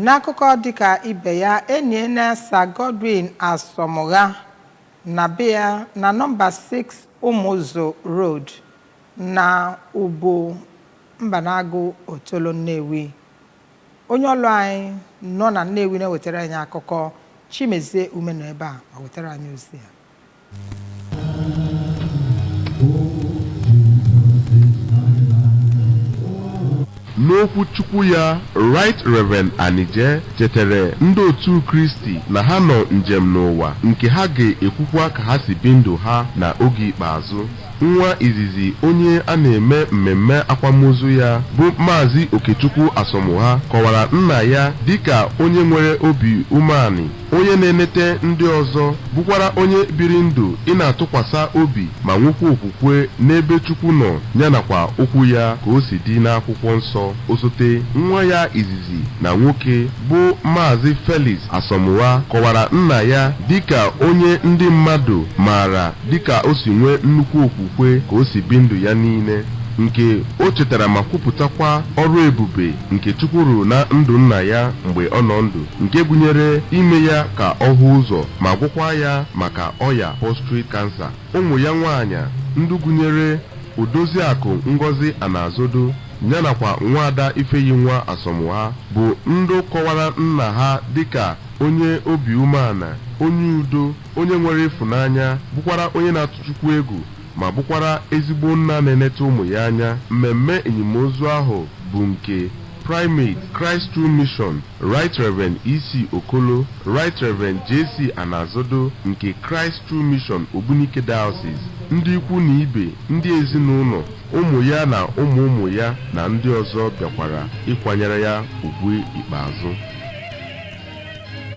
N'akụkọ dịka ibe ya, eniena Sir Godwin Asọmụgha na be ya na nọmba 6 Ụmụzụ Road na Ubu Mbanagụ Otolo Nnewi. Onye ọlụ anyị nọ na Nnewi na-ewetara anyị akụkọ, Chimezie Ume nọ ebe a ma wetara anyị ozi a. N'okwu Chukwu ya, Right Reverend Anije chetere ndị otu Kristi na ha nọ njem n'ụwa nke ha ga-ekwukwa ka ha si bi ndụ ha na oge ikpeazụ. Nwa izizi onye a na-eme mmemme akwamozu ya bụ Maazị Okechukwu Asọmụgha kọwara nna ya dịka onye nwere obi umeanị Onye na-enete ndị ọzọ, bụkwara onye biri ndụ ịna-atụkwasa obi ma nwekwa okwukwe n'ebe Chukwu nọ ya nakwa Okwu Ya ka o si dị n'Akwụkwọ Nsọ. Osote nwa ya izizi na nwoke, bụ Maazị Felix Asọmụgha, kọwara nna ya dị ka onye ndị mmadụ maara dị ka o si nwee nnukwu okwukwe ka o si bi ndụ ya niile, nke o chetara ma kwupụtakwa ọrụ ebube nke Chukwu rụrụ na ndụ nna ya mgbe ọ nọ ndụ. nke gụnyere ime ya ka ọ hụ ụzọ ma gwọkwaa ya maka ọya prostate cancer. Ụmụ ya nwaanyị ndị gụnyere Odoziakụ Ngọzi Anazodo ya nakwa Nwaada Ifeyinwa Asọmụgha bụ ndị kọwara nna ha dịka onye obi umeana, onye udo, onye nwere ịfụnanya, bụkwara onye na-atụ Chukwu egwu ma bụkwara ezigbo nna na-enete ụmụ ya anya. Mmemme enimozu ahụ bụ nke Primate, Christ True Mission, Right Rev. EC. Okolo, Right Rev. JC. Anazodo nke Christ True Mission Ogbunike Diocese, ndị ikwu na ibe, ndị ezinụlọ, ụmụ ya na ụmụ ụmụ ya na ndị ọzọ bịakwara ịkwanyere ya ugwu ikpeazụ.